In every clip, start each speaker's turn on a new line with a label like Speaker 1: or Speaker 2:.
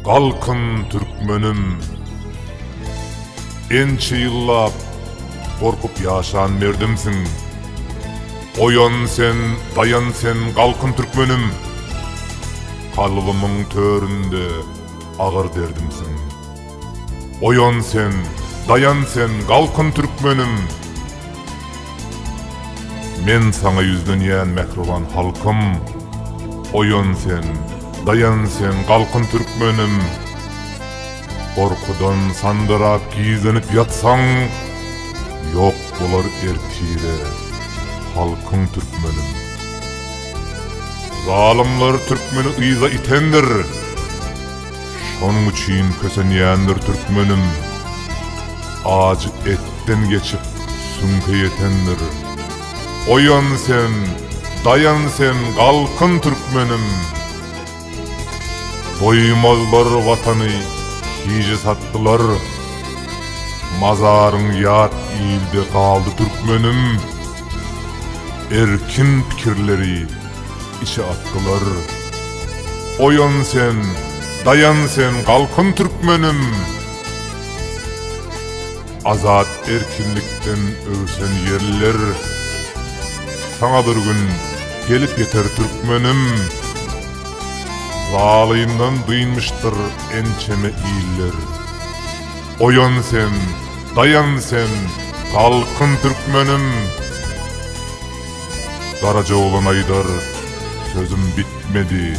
Speaker 1: Galkyň Türkmenim! Ençe ýyllap gorkup ýaşan merdimsiň. Oýan sen, daýan sen, galkyn Türkmenim! Kalbymyň töründe agyr derdimsiň. Oýan sen, daýan sen, galkyn türkmenim! Men saňa ýüzlenýän mähriban halkym! Oýan sen, daýan sen, galkyn türkmenim! Gorkudan sandyrap gizlenip ýatsaň, ýok bolar ertire halkyň türkmenim! Zalymlar türkmeni yza itendir! Şonuň üçin kösenýändir türkmenim, Ajy etden geçip süňke ýetendir. Oýan sen, daýan sen, galkyn türkmenim! Goýmazlar Watany hije satdylar, Mazaryň ýat ilde galdy türkmenim! Erkin pikirleri içe atdylar. Oýan sen, daýan sen, galkyn türkmenim! Azat erkinlikden öwsen ýerliler, Saňa bir gün gelip ýeter türkmenim! Zalymdan dynmyşdyr ençeme iller. Oýan sen, daýan sen, galkyn türkmenim! Garaja oglan aýdar, Sözüm bitmedi.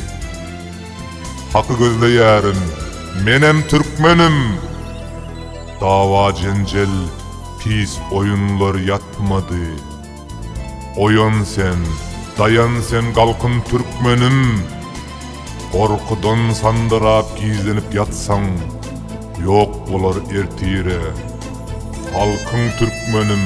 Speaker 1: Haky gözleýärin, menem türkmenim! Dawa-jenjel, pis oýunlar ýatmady. Oýan sen, daýan sen galkyn türkmenim! Gorkudan sandyrap gizlenip ýatsaň, ýok bolar ertire. Halkyň türkmenim!